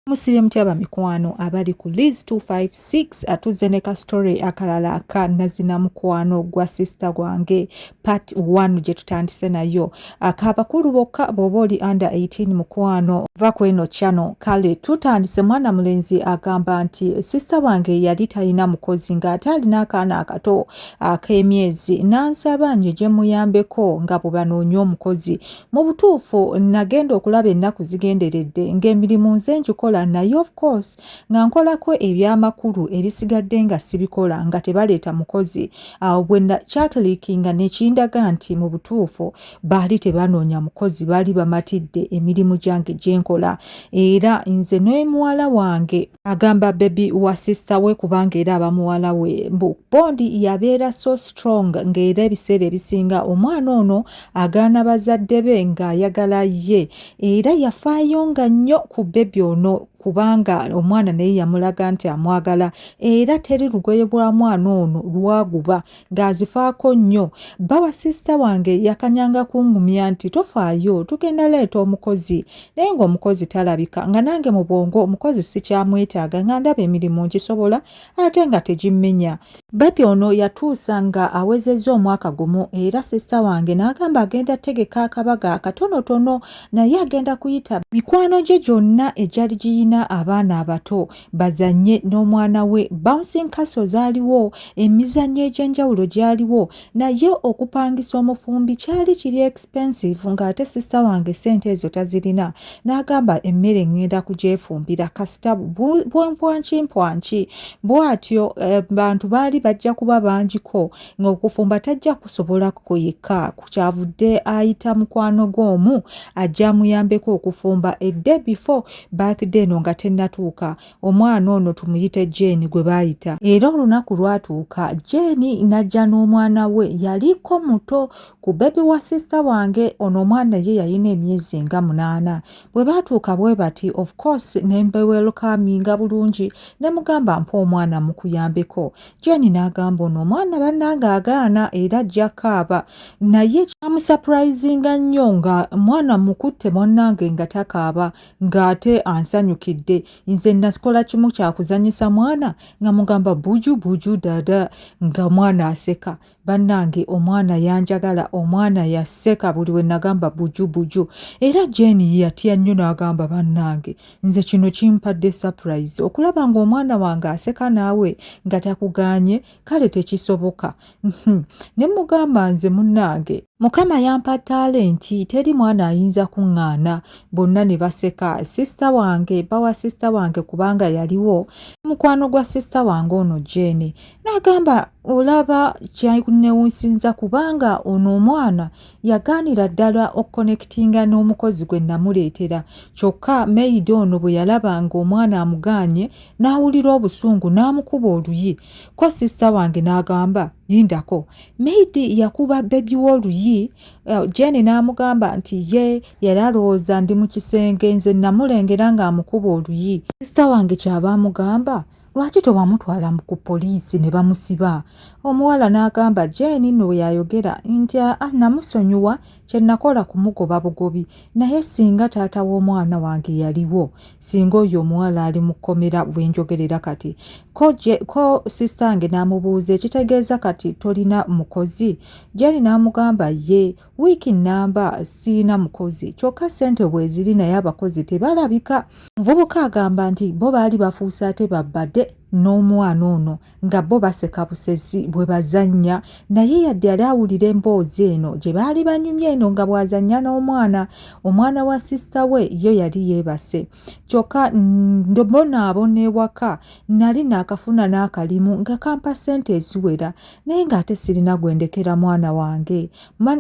Musibye mutya bamikwano abali ku Liz 256 atuzze ne ka story akalala aka nazina mukwano gwa sister gwange part 1 gye tutandise nayo aka bakulu bokka bw'oba oli under 18 mukwano va ku eno channel kale tutandise mwana mulenzi agamba nti sister wange yali talina mukozi ng'ate alina akaana akato ak'emyezi n'ansaba nje gye muyambeko nga bwe banoonya omukozi mu butuufu nagenda okulaba ennaku zigenderedde ng'emirimu nze ngikola naye of course nga nkolako ebyamakulu ebisigadde nga sibikola nga tebaleeta mukozi awo bwe kyakilikinga nekindaga nti mu butuufu baali tebanoonya mukozi baali bamatidde emirimu gyange gye nkola era nze n'omuwala wange agamba bebi wa sisita we kubanga era aba muwala we mbu bondi yabeera so strong ng'era ebiseera ebisinga omwana ono agaana bazadde be ng'ayagala ye era yafaayo nga nnyo ku bebi ono kubanga omwana naye yamulaga nti amwagala era teri lugoye bwa mwana ono lwaguba ng'azifaako nnyo bba wa sisita wange yakanyanga kungumya nti tofaayo tugenda leeta omukozi naye ng'omukozi talabika nga nange mu bwongo omukozi sikyamwetaaga nga ndaba emirimu nkisobola ate nga tegimmenya bebi ono yatuusa nga awezezza omwaka gumu era sisita wange n'agamba agenda tegeka akabaga akatonotono naye agenda kuyita mikwano gye gyonna egyali giyina abaana abato bazanye n'omwana we bouncing castle zaaliwo emizannyo egy'enjawulo gyaliwo naye okupangisa omufumbi kyali kiri expensive ng'ate sista wange sente ezo tazirina n'agamba emmere ngenda kugyefumbira kasita bwampwanki mpwanki bwatyo eh, bantu baali bajja kuba bangiko ng'okufumba tajja kusobola kuyika kukyavudde ayita mukwano gw'omu ajja amuyambeko okufumba edde before birthday no nga tennatuuka omwana ono tumuyite Jane gwe baayita era olunaku lwatuuka Jane n'ajja n'omwana we yaliko muto ku bebi wa sisita wange ono omwana ye yalina emyezi nga munaana bwe baatuuka bwe bati of course ne mbewelkaminga bulungi ne mugamba mpa omwana mukuyambeko Jane n'agamba ono omwana bannange agaana era ajja kaaba naye kyamusapurayizinga nnyo nga mwana mukutte mwannange nga takaaba ng'ate ansanyukidde nze nasikola kimu kyakuzanyisa mwana nga mugamba buju buju dada nga mwana aseka bannange omwana yanjagala omwana yaseka buli we nagamba buju buju era jeni yatya nnyo n'agamba bannange nze kino kimpadde surprise okulaba ng'omwana wange aseka naawe nga takuganye kale tekisoboka uhm. ne mugamba nze munnange mukama yampa talenti teri mwana ayinza kuŋŋaana bonna ne baseka sisita wange bawa sisita wange kubanga yaliwo mukwano gwa sisita wange ono jeeni n'agamba olaba kyakunewunsinza kubanga ono omwana yagaanira ddala okukonekitinga n'omukozi gwe namuleetera kyokka meyidi ono bwe yalaba ng'omwana amugaanye n'awulira obusungu n'amukuba oluyi ko sisita wange n'agamba lindako maidi yakuba bebi w'oluyi eh, jeni n'amugamba nti ye yali alowooza ndi mu kisenge nze namulengera ng'amukuba oluyi sisita wange kyaba amugamba lwaki tewamutwala ku poliisi ne bamusiba omuwala n'agamba jeni no yayogera nti ah, namusonyiwa kye nakola kumugoba bugobi naye singa taata w'omwana wange yaliwo singa oyo omuwala ali mu kkomera bwe njogerera kati ko, je, ko sistange n'amubuuza ekitegeeza kati tolina mukozi gyali n'amugamba ye wiiki nnamba siina mukozi kyokka ssente bweziri naye abakozi tebalabika muvubuka agamba nti bo baali bafuuse ate babade n'omwana ono nga bo baseka busezi bwe bazannya naye yadde yali awulira emboozi eno gye baali banyumye eno nga bw'azannya n'omwana omwana wa sisita we yo yali yeebase kyokka mbonaabona ewaka nali naakafuna n'akalimu nga kampa ssente eziwera naye ng'ate sirina gwe ndekera mwana wange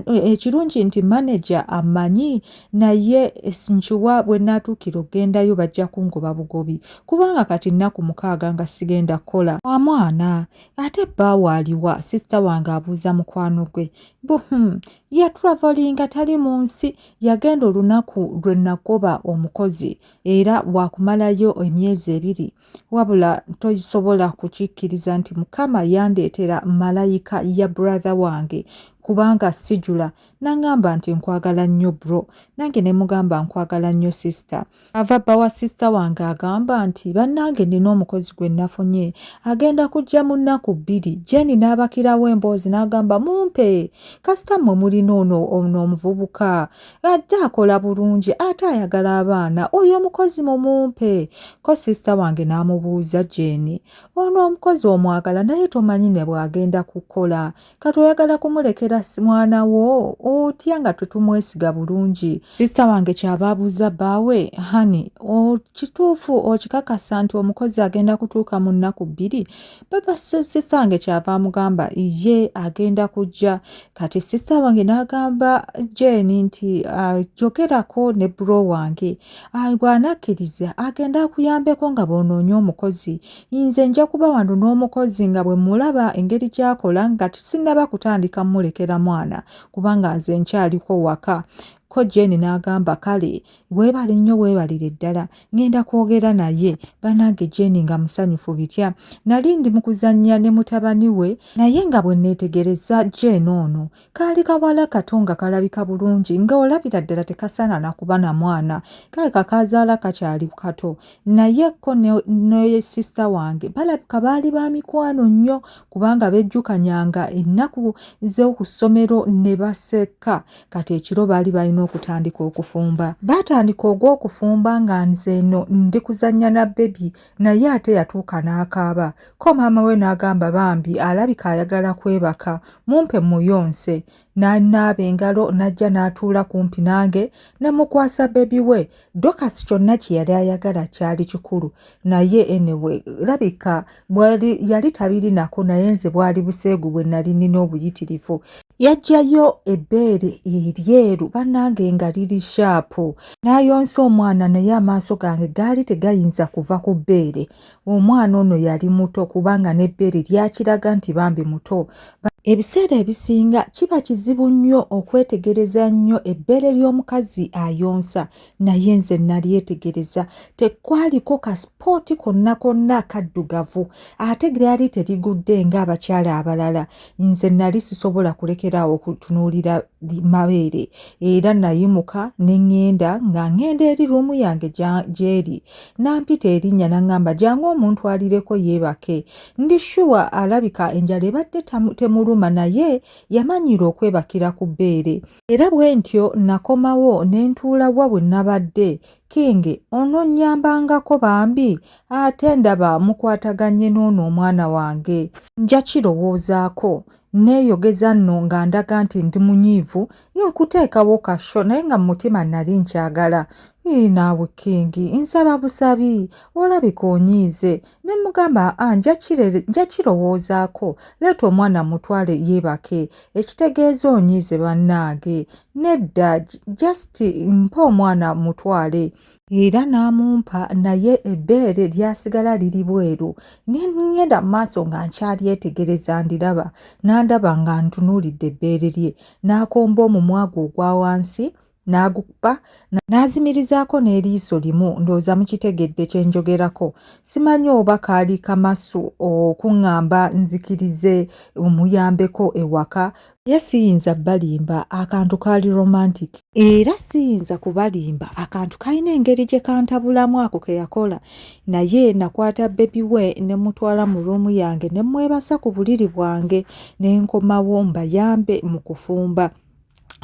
ekirungi nti manaja amanyi naye nkiwa bwe naatuukira okugendayo bajja kungoba bugobi kubanga kati nnaku mukaaga nga sigenda kukola wa mwana ate bbaawo aliwa sisita wange abuuza mukwano gwe hmm, yatraveringa tali mu nsi yagenda olunaku lwe nagoba omukozi era wakumalayo emyezi ebiri wabula tosobola kukikkiriza nti mukama yandeetera malayika ya buratha wange kubanga sijula nangamba nti nkwagala nnyo bro nange ne mugamba nkwagala nnyo sisita ava bba wa sisita wange agamba nti bannange nina omukozi gwe nafunye agenda kujja mu nnaku bbiri jeni n'abakirawo emboozi n'agamba mumpe kasita mmwe mulina ono ono omuvubuka ajja akola bulungi ate ayagala abaana oyo omukozi mumumpe ko sisita wange n'amubuuza jeeni ono omukozi omwagala naye tomanyi ne bw'agenda kukola kati oyagala kumulekera mwana wo otya nga tetumwesiga bulungi sisita wange kyaba abuuza bbaawe hani kituufu okikakasa nti omukozi agenda kutuuka mu nnaku bbiri baba sisita wange kyava amugamba ye agenda kujja kati sisita wange n'agamba jeni nti ah, jogerako ne bro wange ah, bw'anakkiriza agenda akuyambeko nga bwonoonye omukozi nze nja kuba wano n'omukozi nga bwe mulaba engeri gy'akola nga sinnaba kutandika mulekera mwana kubanga nze nkyaliko waka ko jeni n'agamba kale weebale nnyo weebalire ddala ngenda kwogera naye banange jeni nga musanyufu bitya nali ndi mu kuzannya ne mutabani we naye nga bwe neetegereza jeni ono kaali kawala kato nga kalabika bulungi nga olabira ddala tekasaana nakuba na mwana kale kakaazaala kakyali kato naye ko ne sisita wange balabika baali ba mikwano nnyo kubanga bejjukanyanga ennaku z'oku ssomero ne baseka kati ekiro baali balina okutandika okufumba baatandika ogw'okufumba nga nze eno ndi kuzannya na bebi naye ate yatuuka n'akaaba ko maama we n'agamba bambi alabika ayagala kwebaka mumpe muyonse n'anaaba engalo n'ajja n'atuula kumpi nange ne mukwasa bebi we Dorcas kyonna kye yali ayagala kyali kikulu naye anyway labika bwali yali tabirinako naye nze bwali buseegu bwe nali nina obuyitirivu yajjayo ebbeere eryeru bannange nga liri shaapu n'ayonsa omwana naye amaaso gange gaali tegayinza kuva ku bbeere omwana ono yali muto kubanga n'ebbeere lyakiraga nti bambi muto ebiseera ebisinga kiba kizibu nnyo okwetegereza nnyo ebbeere ly'omukazi ayonsa naye nze nalyetegereza tekwaliko kasipooti konna konna kaddugavu ate lyali terigudde ng'abakyala abalala nze nali sisobola kulekeraawo okutunuulira mabeere era nayimuka ne ŋŋenda nga ŋŋenda eri ruumu yange gy'eri n'ampita erinnya n'aŋŋamba jangu omuntwalireko yeebake ndi shuwa alabika enjala ebadde temuluma naye yamanyiira okwebakira ku bbeere era bwe ntyo nakomawo ne ntuula wa bwe nabadde kingi ononnyambangako bambi ate ndaba mukwataganye n'ono omwana wange nja kirowoozaako Nneeyogeza nno nga ndaga nti ndi munyiivu okuteekawo ka sho naye nga mu mutima nnali nkyagala. Ii, naawe Kingi, nsaba busabi, olabika onyiize. Ne mmugamba, aa, nja kirere, nja kirowoozaako, leeta omwana mmutwale yeebake. Ekitegeeza onyiize bannange. Nedda, just mpa omwana mmutwale. era n'amumpa naye ebbeere lyasigala liri bweru ne ŋŋenda mu maaso nga nkyalyetegereza ndiraba n'andaba nga ntunuulidde ebbeere lye n'akomba omumwa gwe ogwa wansi n'agukupa n'azimirizaako n'eriiso limu ndowooza mukitegedde kye njogerako simanyi oba kaali kamasu okuŋŋamba nzikirize omuyambeko ewaka ye siyinza balimba akantu kaali romantic era siyinza kubalimba akantu kalina engeri gye kantabulamu ako ke yakola naye nakwata bebi we ne mutwala mu ruumu yange ne mwebasa ku buliri bwange ne nkomawo mbayambe mu kufumba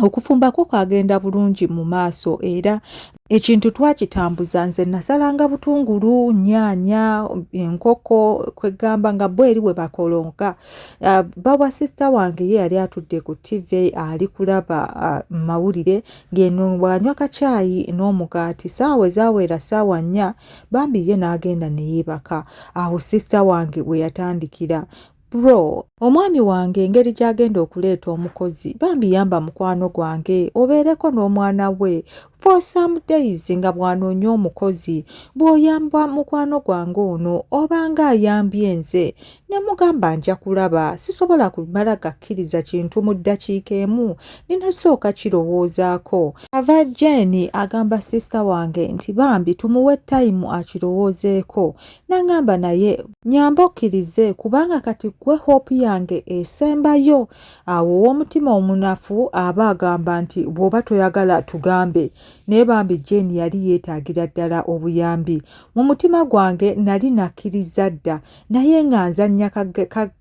okufumba kwo kwagenda bulungi mu maaso era ekintu twakitambuza nze nasalanga butungulu nyaanya enkoko kwegamba nga bo eri bwe bakolonga uh, bawa sisita wange ye yali atudde ku tv ali kulaba uh, mawulire ngeno bwanywa kacaayi n'omugaati saawa ezawera saawa nnya bambi ye n'agenda neyeebaka awo sisita wange we yatandikira Bro, omwami wange engeri gy'agenda okuleeta omukozi bambi yamba mukwano gwange obeereko n'omwana we for some days nga bw'anoonya omukozi bw'oyamba mukwano gwange ono obanga ayambye nze ne mugamba nja kulaba sisobola kumala gakkiriza kintu mu ddakiika emu ninasooka kirowoozaako ava jeeni agamba sisita wange nti bambi tumuwe tayimu akirowoozeeko nangamba naye nyamba okkirize kubanga kati gwe hope yange esembayo awo ow'omutima omunafu aba agamba nti bw'oba toyagala tugambe naye bambi jane yali yeetaagira ddala obuyambi mu mutima gwange nali nakkiriza dda naye nga nzannya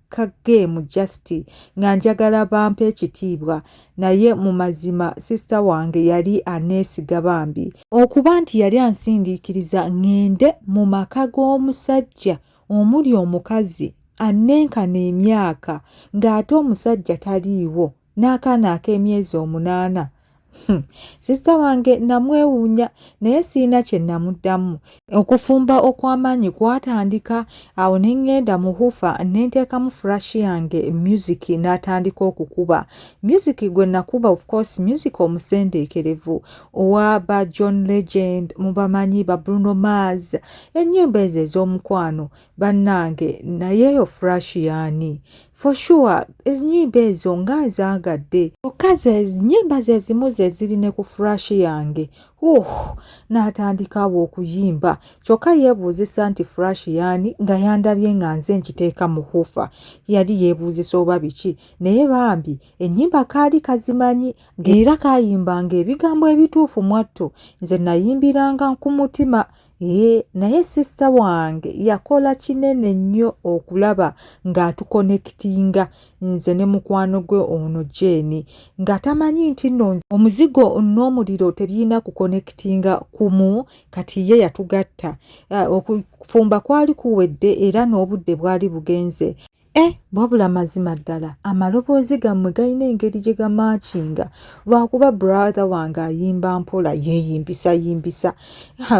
ka geemu just nga njagala bampa ekitiibwa naye mu mazima sisita wange yali aneesiga bambi okuba nti yali ansindiikiriza ŋŋende mu maka g'omusajja omuli omukazi annenkana emyaka ng'ate omusajja taliiwo n'akaana ak'emyezi omunaana hmm. sisita wange namwewuunya naye sirina kye namuddamu okufumba okw'amaanyi kwatandika awo ne ŋŋenda mu hufa ne nteekamu furashi yange myuziki n'atandika okukuba myuziki gwe nakuba of course myuziki omusendeekerevu owa ba john legend mubamanyi ba bruno mars ennyimba ezo ez'omukwano bannange naye eyo fresh yaani for sure ennyimba ezo nga nzaagadde kyokka zenyimba zezimu zeziri ne ku fresh yange uh n'atandikaawo okuyimba kyokka yeebuuzisa nti fresh yaani nga yandabye nga nze nkiteeka mu hufa yali yeebuuzisa oba biki naye bambi ennyimba kaali kazimanyi era kaayimbanga ebigambo ebituufu mwatto nze nayimbiranga ku mutima Ee, naye sisita wange yakola kinene nnyo okulaba ng'atukonekitinga nze ne mukwano gwe ono Jane nga tamanyi nti nno omuzigo n'omuliro tebirina kukonekitinga kumu kati ye yatugatta. Eh, okufumba kwali kuwedde era n'obudde bwali bugenze. E wabula mazima ddala amaloboozi gammwe galina engeri gye gamaakinga lwakuba brother wange ayimba mpola yeeyimbisa yimbisa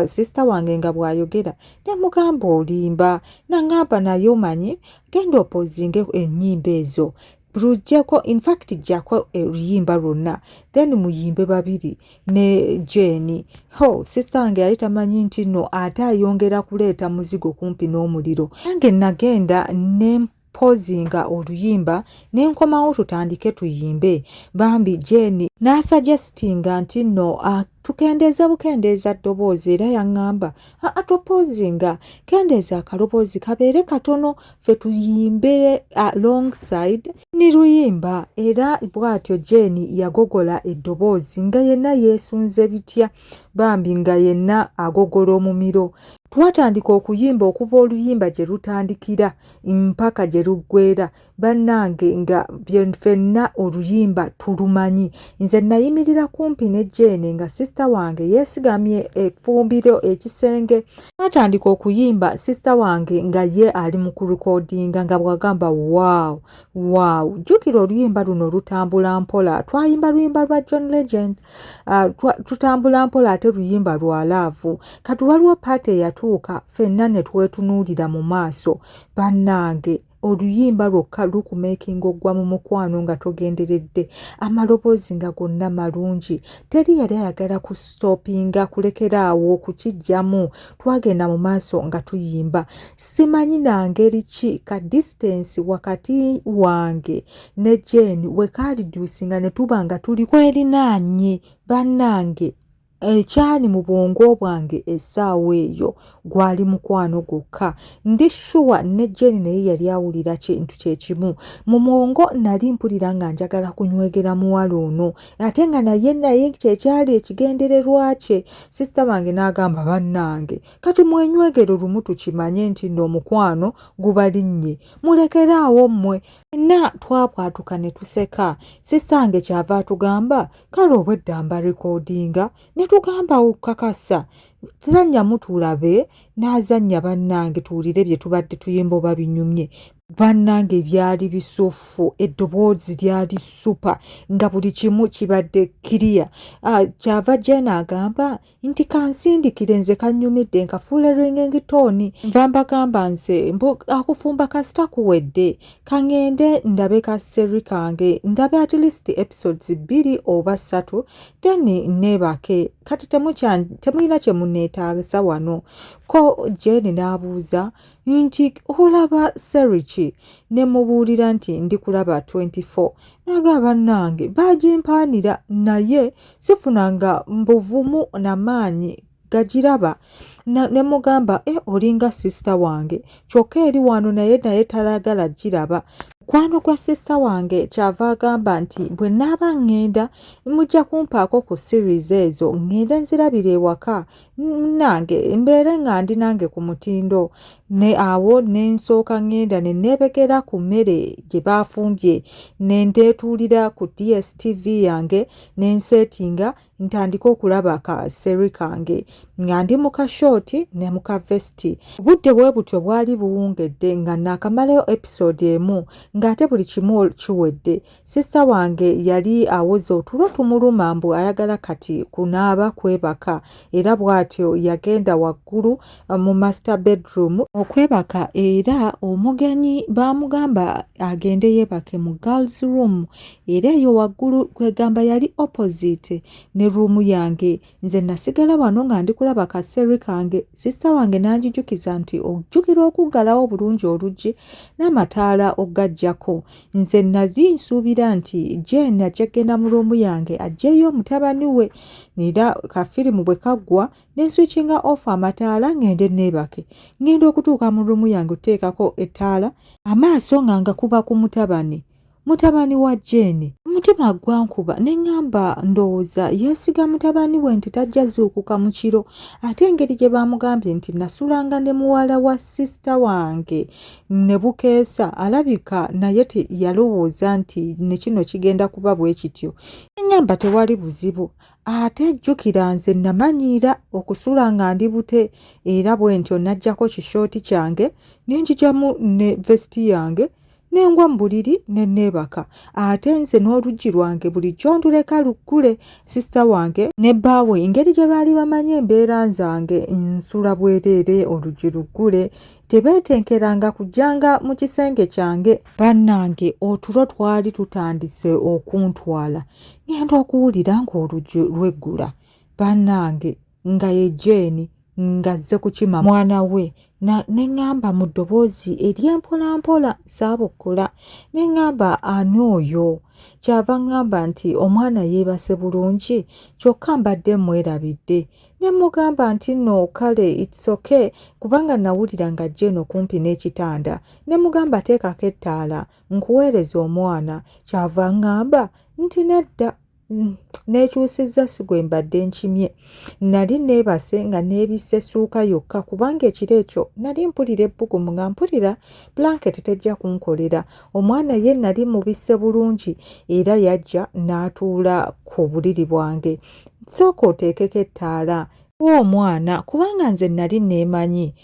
sisita wange nga bw'ayogera ne mugamba olimba nangamba naye omanyi genda opozinge ennyimba ezo lujjeko infact jjako oluyimba lwonna then muyimbe babiri ne jeeni ho sisita wange yali tamanyi nti no ate ayongera kuleeta muzigo kumpi n'omuliro nange nagenda ne mpozinga oluyimba ne nkomawo tutandike tuyimbe bambi jeeni n'asajesitinga nti no tukendeeza bukendeeza ddoboozi era yaŋŋamba atopozinga kendeeza akaloboozi kabeere katono ffe tuyimbe alongside ni luyimba era bwatyo jeeni yagogola eddoboozi nga yenna yeesunze bitya bambi nga yenna agogola omumiro twatandika okuyimba okuva oluyimba gye lutandikira mpaka gye luggweera bannange nga fenna oluyimba tulumanyi nze nayimirira kumpi ne jeeni nga sisita wange yeesigamye efumbiro ekisenge twatandika okuyimba sisita wange nga ye ali mu kurikodinga nga bwagamba wow wow jjukira oluyimba luno lutambula mpola twayimba luyimba lwa john legend uh, tutambula mpola ate luyimba lwa laavu kati waliwo paati eyatuuka fenna ne twetunuulira mu maaso bannange oluyimba lwokka lukumeekinga ogwa mu mukwano nga togenderedde amaloboozi nga gonna malungi teri yali ayagala ku stoppinga kulekera awo okukijjamu twagenda mu maaso nga tuyimba simanyi nangeri ki ka distance wakati wange ne jeni wekaaliduusinga ne tuba nga tuli kwerinaanye bannange ekyali mu bwongo bwange essaawa eyo gwali mukwano gwokka ndi shuwa ne jeni naye yali awulira kintu kyekimu mu mwongo nali mpulira nga njagala kunywegera muwala ono ate nga naye naye kyekyali ekigendererwa kye sisita bange n'agamba bannange kati mwenywegero lumu tukimanye nti no omukwano gubalinnye mulekere awo mmwe enna twabwatuka ne tuseka sisita nge kyava atugamba kale obwedda mba rekodinga ne tugamba okukakasa tuzannya mutulabe n'azannya bannange tuwulire bye tubadde tuyimba oba binyumye bannange byali bisuffu eddoboozi lyali supa nga buli kimu kibadde kiriya ah, kyava jena agamba nti kansindikire nze kannyumidde nkafuule ringing tone nva mbagamba nze mbu akufumba kasita kuwedde kaŋende ndabe ka seri kange ndabe at least episodes bbiri oba ssatu then neebake kati temulina kye muneetaagisa wano ko jeni n'abuuza nti olaba seri ki ne mubuulira nti ndikulaba 24 naga bannange baagimpaanira naye sifunanga mbuvumu na maanyi gagiraba ne mugamba e eh, olinga sisita wange kyokka eri wano naye naye talagala giraba mukwano gwa sisita wange kyava agamba nti bwe naaba ŋŋenda mujja kumpaako ku series ezo ŋŋende nzirabira ewaka nange mbeere nga ndi nange ku mutindo ne awo ne nsooka ŋŋenda ne neebekera ku mmere gye baafumbye ne ndeetuulira ku dstv yange ne nseetinga ntandike okulaba ka seri kange nga ndi mu kashooti ne mu kavesiti obudde bwe butyo bwali buwungedde nga naakamalayo episode emu ng'ate buli kimu kiwedde Sista wange yali awoza otulo tumuluma mbu ayagala kati kunaaba kwebaka era bw'atyo yagenda waggulu eh, mu master bedroom okwebaka era omugenyi baamugamba agende yeebake mu girls room era eyo waggulu kwegamba yali opposite ne ruumu yange nze nasigala wano nga ndi kulaba ka seri kange sisita wange n'anjijukiza nti ojjukira okuggalawo obulungi oluggi n'amataala okugajjako nze nazi nsuubira nti jeen ajja kugenda mu luumu yange ajjeeyo omutabani we era kafirimu bwe kaggwa ne nswikinga ofa amataala ng'ende neebake ng'enda okutuuka mu luumu yange okuteekako ettaala amaaso nga ngakuba ku mutabani mutabani wa Jane. Omutima gwankuba ne ŋŋamba ndowooza yeesiga mutabani we nti tajja zuukuka mu kiro ate engeri gye baamugambye nti nasulanga ne muwala wa sisita wange ne bukeesa alabika naye yalowooza nti ne kino kigenda kuba bwe kityo. Eŋŋamba tewali buzibu ate jjukira nze namanyiira okusula nga ndi bute era bwe ntyo najjako kishooti kyange ne njijamu ne vesiti yange nengwa mu buliri ne neebaka ate nze n'oluggi lwange bulijjo nduleka luggule sisita wange ne bbaawe engeri gye baali bamanyi embeera nzange nsula bwereere oluggi luggule tebeetenkeranga kujjanga mu kisenge kyange bannange otulo twali tutandise okuntwala ngenda okuwulira ng'oluggi lweggula bannange nga ye jeeni ng'azze kukima mwana we ne ŋŋamba mu ddoboozi ery'empolampola saabukula ne ŋŋamba ani oyo kyava ŋŋamba nti omwana yeebase bulungi kyokka mbadde mmwerabidde ne mmugamba nti nno kale itsoke kubanga nawulira nga jeeni okumpi n'ekitanda ne mugamba teekako ettaala nkuweereza omwana kyava ŋŋamba nti nedda neekyusizza si gwe mbadde nkimye nali neebase nga neebisse essuuka yokka kubanga ekiro ekyo nali mpulira ebbugumu nga mpulira blanketi tejja kunkolera omwana ye nali mubisse bulungi era yajja n'atuula ku buliri bwange sooka oteekeko ettaala omwana kubanga nze nali neemanyi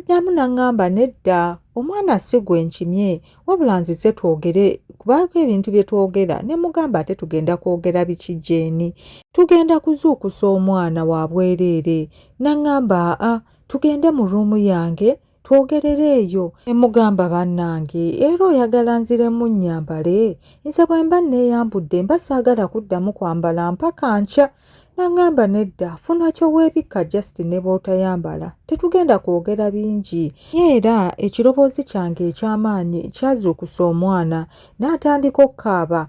Namu nangamba nedda omwana si gwe nkimye wabula nzize twogere kubaako ebintu bye twogera ne mugamba ate tugenda kwogera biki jeeni tugenda kuzuukusa omwana wa bwereere nangamba aa tugende mu ruumu yange twogerere eyo emugamba bannange era oyagala nziremu nnyambale nze bwe mba nneeyambudde mba saagala kuddamu kwambala mpaka nkya Nangamba nedda funa ky'oweebikka just ne bw'otayambala tetugenda kwogera bingi. Era ekiroboozi kyange eky'amaanyi kyazuukusa omwana n'atandika okukaaba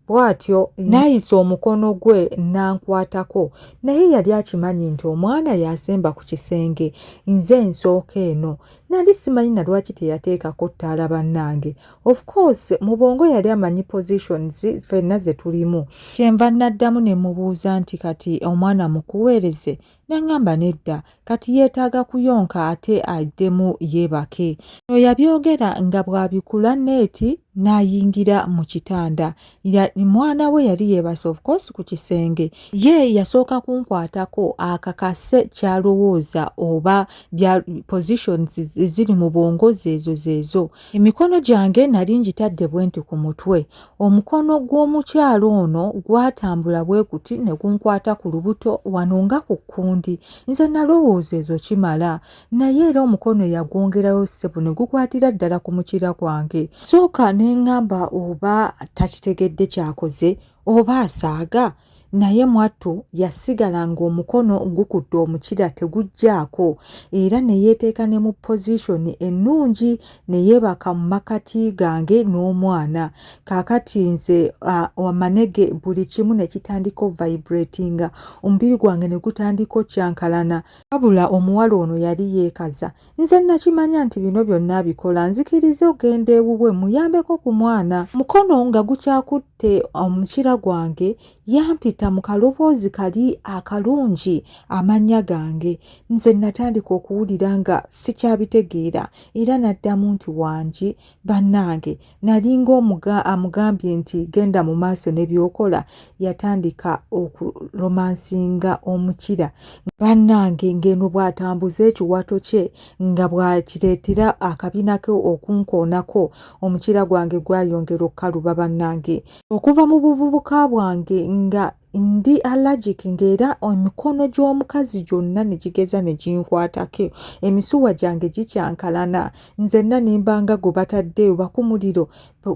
bw'atyo n'ayisa omukono gwe n'ankwatako naye yali akimanyi nti omwana yasemba ku kisenge nze nsooka eno nali simanyi na lwaki teyateekako ttaala bannange of course mu bwongo yali amanyi positions fenna ze tulimu kyenva naddamu ne mubuuza nti kati omwana mukuweereze nangamba nedda kati yeetaaga kuyonka ate addemu yeebake no yabyogera nga bwabikula neeti n'ayingira mu kitanda mwana we yali yeebase of course ku kisenge ye yasooka kunkwatako akakase kyalowooza oba positions ziri mu bwongo zeezo zeezo Emikono gyange nali ngitadde bwenti ku mutwe, omukono gw'omukyala ono gwatambula bwe guti ne gunkwata ku lubuto wano nga ku kkundi. Nze nalowooza ezo kimala, naye era omukono yagwongerayo ssebo ne gukwatira ddala ku mukira gwange. Sooka ne ngamba oba takitegedde kyakoze oba asaaga naye mwattu yasigala ng'omukono gukutte omukira teguggyako era ne yeeteeka ne mu pozishoni ennungi ne yeebaka mu makati gange n'omwana kaakati nze amanege buli kimu ne kitandika ovibratinga omubiri gwange ne gutandika okyankalana wabula omuwala ono yali yeekaza nze nakimanya nti bino byonna abikola nzikiriza ogenda ewuwe muyambeko ku mwana mukono nga gukyakutte omukira gwange yampita mu kaloboozi kali akalungi amannya gange nze natandika okuwulira nga sikyabitegeera era naddamu nti wangi bannange nalinga omuga amugambye nti genda mu maaso ne byokola yatandika okuromansinga omukira bannange ng'eno bw'atambuza ekiwato kye nga bw'akireetera akabina ke okunkoonako omukira gwange gwayongera okukaluba bannange okuva mu buvubuka bwange nga ndi allergic ng'era emikono gy'omukazi gyonna ne gigeza ne ginkwatako emisuwa gyange gikyankalana nzenna nimba nga gwe batadde oba ku muliro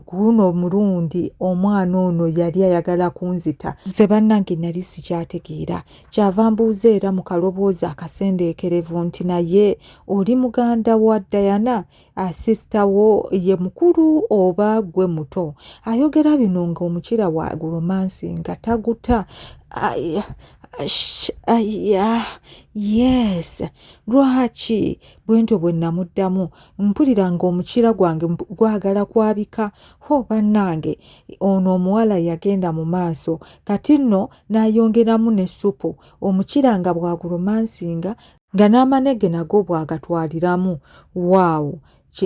guno omulundi omwana ono yali ayagala kunzita nze bannange nali sikyategeera kyava mbuuza era mu kaloboozi akasendeekerevu nti naye oli muganda wa dayana Ah, sisita wo ye mukulu oba gwe muto ayogera bino nga omukira wa romansi nga taguta yes lwaki bwentyo bwe namuddamu mpulira nga omukira gwange gwagala kwabika ho bannange ono omuwala yagenda mu maaso kati nno n'ayongeramu ne supu omukira nga bwaguromansinga nga n'amanege nago bw'agatwaliramu waawo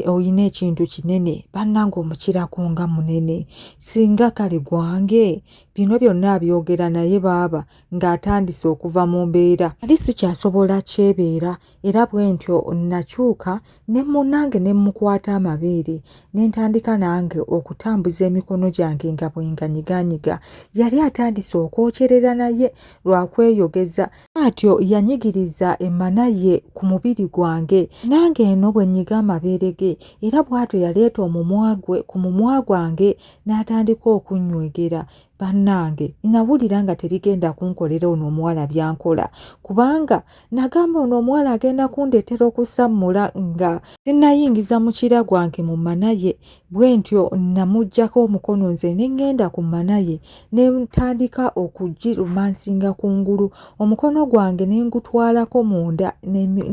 olina ekintu kinene bannanga omukirako nga munene singa kale gwange bino byonna abyogera naye baaba ng'atandise okuva mu mbeera ali sikyasobola kyebeera era bwe ntyo nakyuka ne munange ne mmukwata amabeere ne ntandika nange okutambuza emikono gyange nga bwenganyiganyiga yali atandise okwokyerera naye lwakweyogeza bw'atyo yanyigiriza emmana ye ku mubiri gwange nange eno bwe nnyiga amabeere ge era bw'atyo yaleeta omumwa gwe ku mumwa gwange n'atandika okunnywegera bannange nawulira nga tebigenda kunkolera ono omuwala byankola kubanga nagamba ono omuwala agenda kundeetera okusammula nga sinayingiza mukira gwange mu mana ye Bwe ntyo namuggyako omukono nze ne ŋŋenda ku mmana ye ne ntandika okugirumansinga ku ngulu omukono gwange ne ngutwalako munda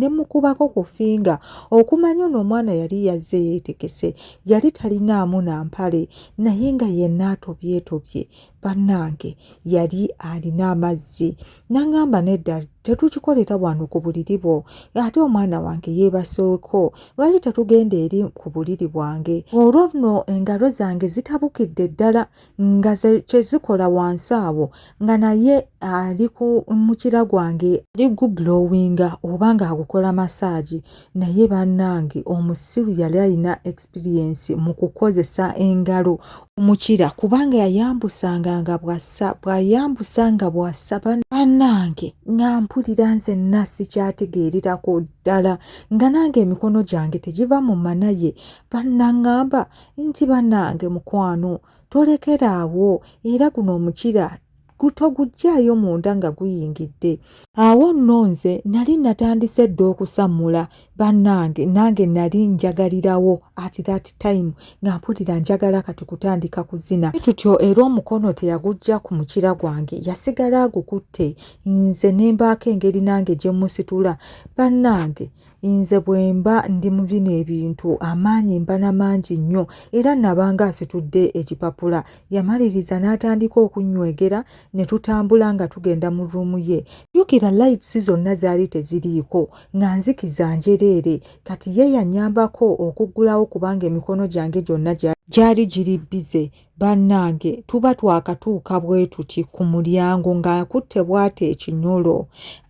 ne mukubako ku finga okumanya ono omwana yali yazze yeetegese yali talinaamu na mpale naye nga yenna atobyetobye bannange yali alina amazzi nangamba nedda tetukikolera wano ku buliri bwo ate omwana wange yeebaseeko lwaki tetugenda eri ku buliri bwange olwo nno engalo zange zitabukidde ddala nga kyezikola wansi awo nga naye ali ku mukira gwange ali gublowinga oba ng'agukola masaagi naye banange omusiru yali alina experience mu kukozesa engalo omukira kubanga yayambusanga nga bwassa bwayambusa nga bwassa banange nga mpulira nze nasi kyategeererako ddala nga nange emikono gyange tegiva mu manaye banangamba nti banange mukwano tolekeraawo era guno omukira gutoguggyaayo munda nga guyingidde awo nno nze nali natandise dda okusammula bannange nange nali njagalirawo at that time nga mpulira njagala kati kutandika kuzina tutyo era omukono teyagujja ku mukira gwange yasigala agukutte nze ne mbaako engeri nange gye mmusitula bannange Nze bwe mba ndi mu bino ebintu amaanyi mba na mangi nnyo era nabanga asitudde ekipapula. Yamaliriza n'atandika okunnywegera ne tutambula nga tugenda mu ruumu ye. Jjukira lights zonna zaali teziriiko nga nzikiza njereere. Kati ye yannyambako okuggulawo kubanga emikono gyange gyonna gyali giri bbize. Bannange tuba twakatuuka bwe tuti ku mulyango ng'akutte bw'ati ekinyolo